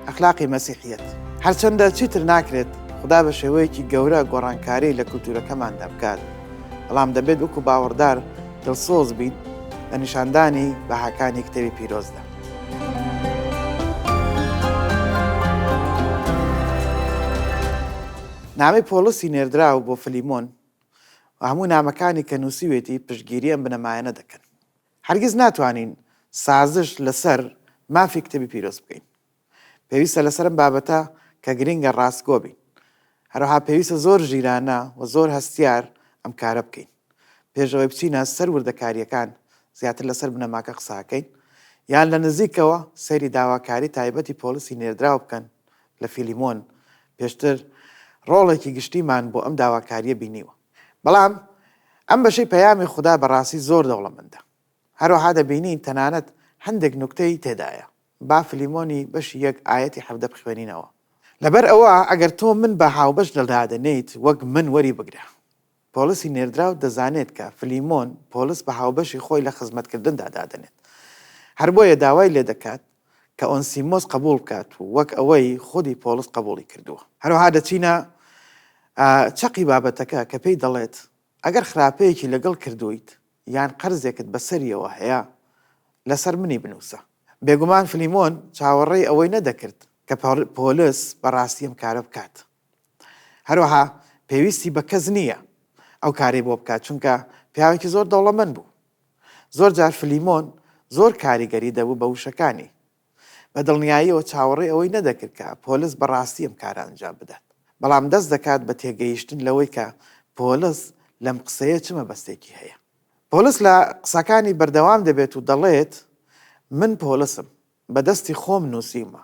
ئەخلاقی مەسیحیەت هەرچەندە چیتر ناکرێت خدا بە شێوەیەکی گەورە گۆڕانکاری لە کولتورەکەمان دەبکات بەڵام دەبێت وەکو باوەڕدار دڵسۆز بیت لە نیشاندانی بەهاکانی کتێوی پیرۆزدا نامی پۆلسی نێردراو بۆ فلیمۆن هەموو نامەکانی کە نووسیوێتی پشگیری ئەم بنەمایەنە دەکەن هەرگیز ناتوانین سازش لەسەر مافی کتێبی پیرۆز بکەین. پێویستە لەسەر ئەم بابەتە کە گرینگە ڕاستگۆ بین. هەروەها پێویستە زۆر ژیرانە و زۆر هەستیار ئەم کارە بکەین. پێش ئەوەی بچینە سەر وردەکارییەکان زیاتر لەسەر بنەماکە قساکەین. یان لە نزیکەوە سەیری داواکاری تایبەتی پۆڵسی نێردراو بکەن لە فیلیمۆن. پێشتر ڕۆڵێکی گشتیمان بۆ ئەم داواکارییە بینیوە. بەڵام ئەم بەشەی پەیامی خودا بەڕاستی زۆر دەوڵەمەندە. هەروەها دەبینین تەنانەت هەندێک نوکتەی تێدایە. با فلیمۆنی بەشی یەک ئایەتی حەڤدە بخوێنینەوە. لەبەر ئەوە ئەگەر تۆ من بە هاوبەش لەدادەنێیت، وەک من وەریبگرە. پۆڵسی نێردراو دەزانێت کە فلیمۆن پۆڵس بە هاوبەشی خۆی لە خزمەتکردندا دادەنێت. هەر بۆیە داوای لێدەکات کە ئۆنسیمۆس قەبووڵ بکات و وەک ئەوەی خودی پۆڵس قەبووڵی کردووە. هەروەها دەچینە چەقی بابەتەکە کە پێی دەڵێت، ئەگەر خراپەیەکی لەگەڵ کردوویت یان قەرزێکت بەسەریەوە هەیە، لەسەر منی بنووسە. بێگومان فلیمۆن چاوەڕێی ئەوەی نەدەکرد کە پۆلس بەڕاستی ئەم کارە بکات. هەروەها پێویستی بە کەس نییە ئەو کارەی بۆ بکات، چونکە پیاوێکی زۆر دەوڵەمەند بوو. زۆر جار فلیمۆن زۆر کاریگەری دەبوو بە وشەکانی. بە دڵنیاییەوە چاوەڕێی ئەوەی نەدەکرد کە پۆلس بە ڕاستی ئەم کارە ئەنجام بدات. بەڵام دەست دەکات بە تێگەیشتن لەوەی کە پۆلس لەم قسەیە چ مەبەستێکی هەیە. پۆلس لە قسەکانی بەردەوام دەبێت و دەڵێت، من پۆلسم. بە دەستی خۆم نووسیومە.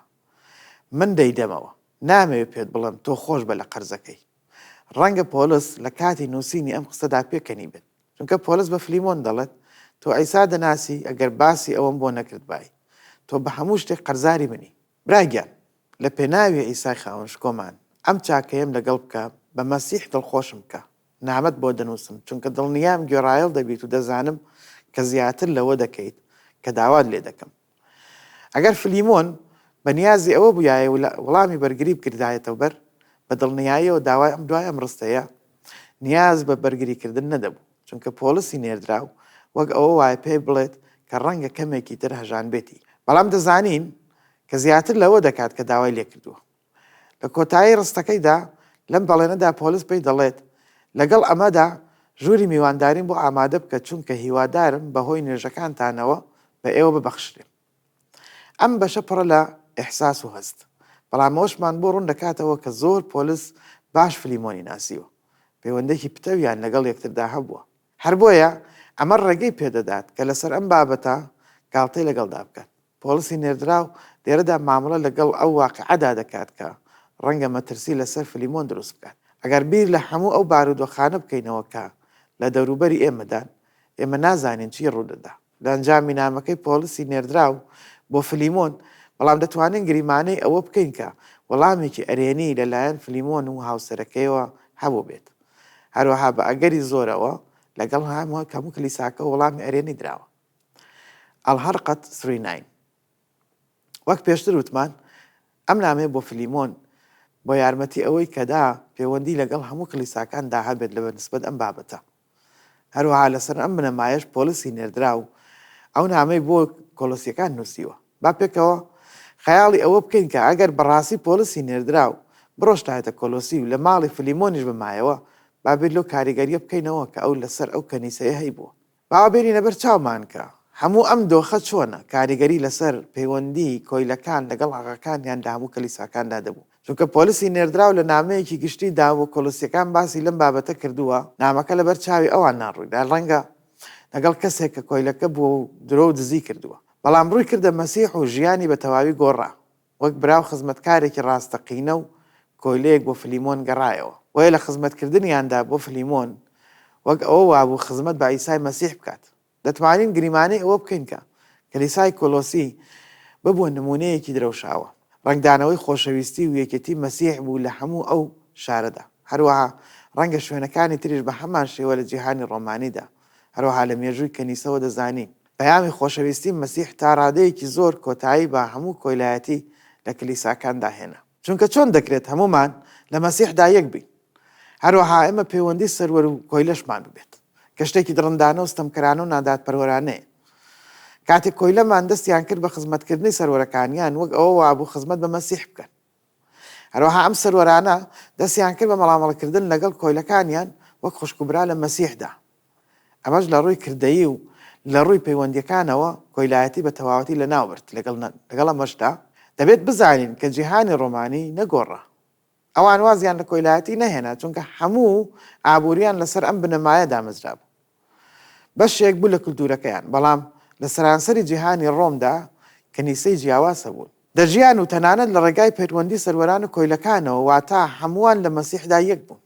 من دەیدەمەوە. نامەوێت پێت بڵێم تۆ خۆش بە لە قەرزەکەی. ڕەنگە پۆلس لە کاتی نووسینی ئەم قسەدا پێکەنیبێت. چونکە پۆلس بە فلیمۆن دەڵێت، تۆ عیسا دەناسی، ئەگەر باسی ئەوەم بۆ نەکردبای، تۆ بە هەموو شتێک قەرزاری منی. برا گیان، لە پێناوی عیسای خاوەن شکۆمان، ئەم چاکەیەم لەگەڵ بکە، بە مەسیح دڵخۆشم بکە. نامەت بۆ دەنووسم، چونکە دڵنیام گوێڕایەڵ دەبیت و دەزانم کە زیاتر لەوە دەکەیت کە داوات لێ دەکەم. ئەگەر فلیمۆن بە نیازی ئەوە بوویایە و وڵامی بەرگری بکردایەتەوە بەر، بە دڵنیاییەوە داوای ئەم دوای ئەم ڕستەیە نیاز بە بەرگریکردن نەدەبوو، چونکە پۆڵسی نێردراو وەک ئەوە وایە پێی بڵێت کە ڕەنگە کەمێکی تر هەژانبێتی، بەڵام دەزانین کە زیاتر لەوە دەکات کە داوای لێکردووە. لە کۆتایی ڕستەکەیدا لەم بەڵێنەدا پۆلس پێی دەڵێت، لەگەڵ ئەمەدا ژووری میوانداریم بۆ ئامادە بکە چونکە هیوادارم بەهۆی نوێژەکانتانەوە بە ئێوە ببەخشرێم. ئەم بەشە پڕە لە ئیحساس و هەست، بەڵام ئەوەشمان بۆ ڕوون دەکاتەوە کە زۆر پۆلس باش فلیمۆنی ناسیوە، پەیوەندێکی پتەویان لەگەڵ یەکتردا هەبووە. هەر بۆیە ئەمە ڕێگەی پێدەدات کە لەسەر ئەم بابەتە گاڵتەی لەگەڵدا بکات. پۆڵسی نێردراو لێرەدا مامەڵە لەگەڵ ئەو واقیعەدا دەکات کە ڕەنگە مەترسی لەسەر فلیمۆن دروست بکات. ئەگەر بیر لە هەموو ئەو بارودۆخانە بکەینەوە کە لە دەوروبەری ئێمەدان، ئێمە نازانین چی ڕوودەدا لە ئەنجامی نامەکەی پۆڵسی نێردراو بۆ فلیمۆن، بەڵام دەتوانین گریمانەی ئەوە بکەین کە وەڵامێکی ئەرێنی لەلایەن فلیمۆن و هاوسەرەکەیەوە هەبووبێت. هەروەها بە ئەگەری زۆرەوە لەگەڵ هەموو کلیساکە وەڵامی ئەرێنی دراوە. الحلقە ثری ناین وەک پێشتر وتمان ئەم نامەیە بۆ فلیمۆن بۆ یارمەتی ئەوەی کەدا پێوەندی لەگەڵ هەموو کلیساکان دا هەبێت لە بەنسبەت ئەم بابەتە هەروەها لەسەر ئەم بنەمایش پۆلیسی نێردرا و ئەو نامەی بۆ کۆلسیەکان نووسیوە با پێکەوە خەیاڵی ئەوە بکەین کە ئەگەر بەڕاستی پۆلیسی نێردرا و بڕۆشتایەتە کۆلۆسی و لە ماڵی فلیمۆنیش بمایەوە بابێت لەو کاریگەریە بکەینەوە کە ئەو لەسەر ئەو کەنیسەیە هەیبووە با بێنینە بەر چاومان کە هەموو ئەم دۆخە چۆنە کاریگەری لەسەر پەیوەندی کۆیلەکان لەگەڵ ئاغاکانیان لە هەموو کلیساکاندا دەبوو، چونکە پۆلسی نێردراو لە نامەیەکی گشتی دا بۆ کۆلسیەکان باسی لەم بابەتە کردووە، نامەکە لەبەر چاوی ئەواندا ڕووی دا، ڕەنگە لەگەڵ کەسێک کە کۆیلەکە بووە و درۆ و دزی کردووە، بەڵام ڕووی کردە مەسیح و ژیانی بە تەواوی گۆڕا. وەک برا و خزمەتکارێکی ڕاستەقینە و کۆیلەیەک بۆ فلیمۆن گەڕایەوە. بۆیە لە خزمەتکردنیاندا بۆ فلیمۆن، وەک ئەوە وابوو خزمەت بە عیسای مەسیح بکات. دەتوانین گریمانەی ئەوە بکەین کە کلیسای کۆلۆسی ببووە نموونەیەکی درەوشاوە. ڕەنگدانەوەی خۆشەویستی و یەکێتی مەسیح بوو لە هەموو ئەو شارەدا. هەروەها ڕەنگە شوێنەکانی تریش بە هەمان شێوە لە جیهانی ڕۆمانیدا، هەروەها لە مێژووی کەنیسەوە دەزانین. پەیامی خۆشەویستی مەسیح تا ڕادەیەکی زۆر کۆتایی بە هەموو کۆیلایەتی لە کلیساکاندا هێنا. چونکە چۆن دەکرێت هەموومان لە مەسیحدا یەک بین، هەروەها ئێمە پەیوەندی سەروەر و کۆیلەشمان ببێت، کە شتێکی دڕندانە و ستەمکەرانە و نادادپەروەرانەیە. کاتێک کۆیلەمان دەستیان کرد بە خزمەتکردنی سەروەرەکانیان، وەک ئەوە وابوو خزمەت بە مەسیح بکەن. هەروەها ئەم سەروەرانە دەستیان کرد بە مەڵامەڵکردن لەگەڵ کۆیلەکانیان وەک خوشک و برا لە مەسیحدا. ئەمەش لە ڕووی کردەیی و لە ڕووی پەیوەندییەکانەوە کۆیلایەتی بە تەواوەتی لەناو برد، لەگەڵ ئەمەشدا دەبێت بزانین کە جیهانی ڕۆمانی نەگۆڕا. ئەوان وازیان لە کۆیلایەتی نەهێنا چونکە هەموو ئابوورییان لەسەر ئەم بنەمایە دامەزرابوو. بەشێک بوو لە کلتوورەکەیان، بەڵام لە سەرانسەری جیهانی ڕۆمدا کەنیسەی جیاواز هەبوون. دەژیان و تەنانەت لە ڕێگای پەیوەندی سەروەران و کۆیلەکانەوە، واتە هەمووان لە مەسیحدا یەک بوون.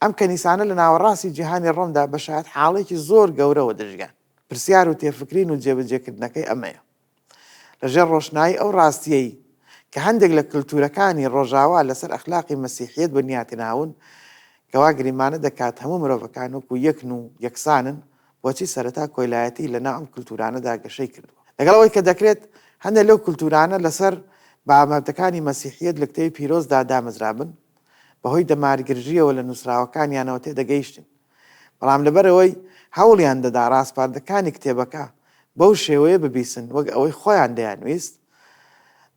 ئەم کەنیسانە لە ناوەڕاستی جیهانی ڕۆمدا بە شایەتحاڵیکی زۆر گەورەوە دەژیان. پرسیار و تێفکرین و جێبەجێکردنەکەی ئەمەیە. لەژێر ڕۆشنایی ئەو ڕاستییەی کە هەندێک لە کلتوورەکانی ڕۆژاوا لەسەر ئەخلاقی مەسیحییەت بنیاتناون کە وا گریمانە دەکات هەموو مرۆڤەکان وەکو یەکن و یەکسانن، بۆچی سەرەتا کۆیلایەتی لەناو ئەم کلتوورانەدا گەشەی کردووە؟ لەگەڵ ئەوەی کە دەکرێت هەندێک لەو کلتوورانە لەسەر بابەتەکانی مەسیحییەت لە کتێوی پیرۆزدا دامەزرابن، بەهۆی دەمارگرژییەوە لە نووسراوەکانیانەوە تێدەگەیشتین بەڵام لەبەرئەوەی هەوڵیان دەدا ڕاسپاردەکانی کتێبەکە بەو شێوەیە ببیسن وەک ئەوەی خۆیان دەیانویست،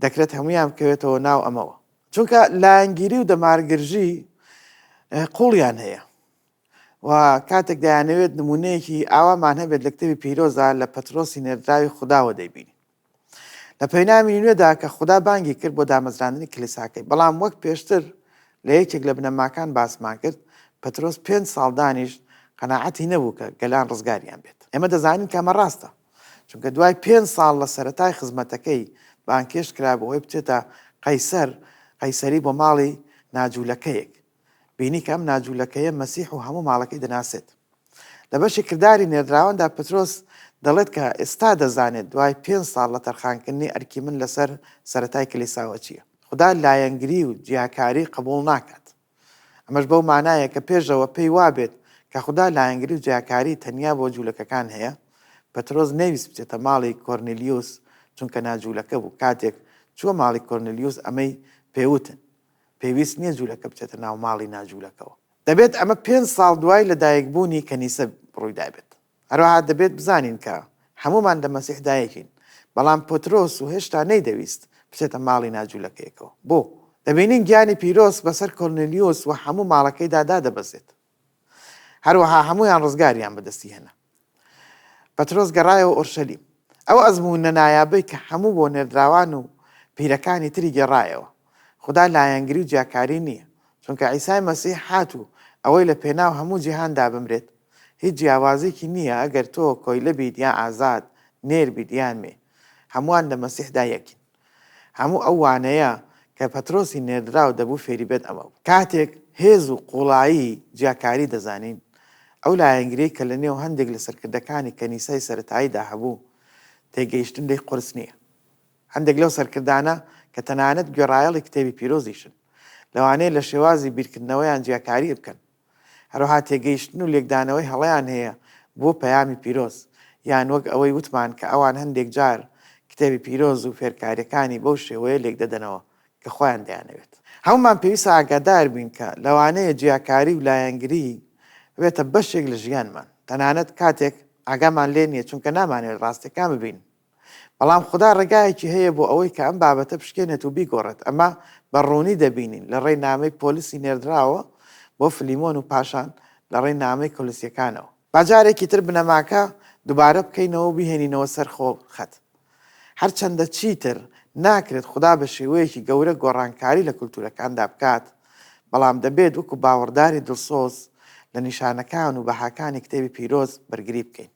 دەکرێت هەموویان بکەوێتەوە ناو ئەمەوە. چونکە لایەنگیری و دەمارگرژی قووڵیان هەیە و کاتێک دەیانەوێت نموونەیەکی ئاوامان هەبێت لە کتێبی پیرۆزدا لە پەترۆسی نێردراوی خوداوە دەیبینین. لە پەیامی نوێدا کە خودا بانگی کرد بۆ دامەزراندنی کلیساکەی بەڵام وەک پێشتر لە یەکێک لە بنەماکان باسمان کرد پەترۆس پێ ساڵ دانیشت قەنەعەتی نەبوو کە گەلان ڕزگاریان بێت ئێمە دەزانین کەمە ڕاستە چونکە دوای پێ ساڵ لە سەتای خزمەتەکەی بانکێش کرا بۆ ئەوی بچێتە قەیسەر قەیسەری بۆ ماڵی ناجوولەکەیەک بینی کە ئەم ناجوولەکەیە مەسیح و هەموو ماڵەکەی دەناسێت. لە بەشی کرداری نێردراواندا پترۆس دەڵێت کە ئێستا دەزانێت دوای پێنج ساڵ لە تەرخانکردنی ئەرکی من لەسەر سەرەتای کلیساوە چییە. خودا لایەنگری و جیاکاری قبوڵ ناکات. ئەمەش بەو مانایە کە پێشەوە پێی وابێت کە خودا لایەنگری و جیاکاری تەنیا بۆ جوولەکەکان هەیە. پترۆس نەیویست بچێتە ماڵی کۆرنیلیوس چونکە ناجوولەکە بوو. کاتێک چووە ماڵی کۆرنیلیوس ئەمەی پێ وتن. پێویست نییە جوولەکە بچێتە ناو ماڵی ناجوولەکەوە. دەبێت ئەمە پێنج ساڵ دوای لەدایکبوونی کەنیسە ڕوویدابێت. هەروەها دەبێت بزانین کە هەموومان لە مەسیح دایکین. بەڵام پترۆس و هێشتا نەیدەویست بچێتە ماڵی ناجوولەکەیەکەوە. بۆ؟ دەبینین گیانی پیرۆز بەسەر کۆرنلیۆس و هەموو ماڵەکەیدا دادەبەزێت. هەروەها هەموویان ڕزگاریان بەدەستی هێنا. پەترۆس گەڕایەوە ئۆرشەلیم. ئەو ئەزموونە نایابەی کە هەموو بۆ نێردراوان و پیرەکانی تری گێڕایەوە. خودا لایەنگری و جیاکاری نییە. چونکە عیسای مەسیح هات و ئەوەی لە پێناو هەموو جیهاندا بمرێت، هیچ جیاوازیکی نییە ئەگەر تۆ کۆیلە بیت یا ئازاد، نێر بیت یان مێ. هەمووان لە مەسیحدا یەکین. هەموو ئەو وانەیە کە پەترۆسی نێردراو دەبوو فێری بێت ئەمە بوو. کاتێک هێز و قووڵایی جیاکاری دەزانین، ئەو لایەنگریەی کە لە نێو هەندێک لە سەرکردەکانی کەنیسای سەرەتاییدا هەبوو، تێگەیشتن لێی قورس نییە. هەندێک لەو سەرکردانە کە تەنانەت گوێڕایەڵی کتێبی پیرۆزیشن، لەوانەیە لە شێوازی بیرکردنەوەیان جیاکاری بکەن، هەروەها تێگەیشتن و لێکدانەوەی هەڵەیان هەیە بۆ پەیامی پیرۆز، یان وەک ئەوەی وتمان کە ئەوان هەندێک جار کتێبی پیرۆز و فێرکاریەکانی بەو شێوەیە لێکدەدەنەوە کە خۆیان دەیانەوێت. هەموومان پێویستە ئاگادار بین کە لەوانەیە جیاکاری و لایەنگری ببێتە بەشێک لە ژیانمان، تەنانەت کاتێک ئاگامان لێ نییە، چونکە نامانەوێت ڕاستیەکان ببینین. بەڵام خودا ڕێگایەکی هەیە بۆ ئەوەی کە ئەم بابەتە بشکێنێت و بیگۆڕێت، ئەمە بە ڕوونی دەبینین لە ڕێی نامەی پۆلسی نێردراوەوە بۆ فلیمۆن و پاشان لە ڕێی نامەی کۆلسیەکانەوە. با جارێکی تر بنەماکە دووبارە بکەینەوە و بیهێنینەوە سەر خۆخەت. هەرچەندە چیتر ناکرێت خودا بە شێوەیەکی گەورە گۆڕانکاری لە کولتوورەکاندا بکات، بەڵام دەبێت وەکو باوەڕداری دڵسۆز لە نیشانەکان و بەهاکانی کتێبی پیرۆز بەرگری بکەین.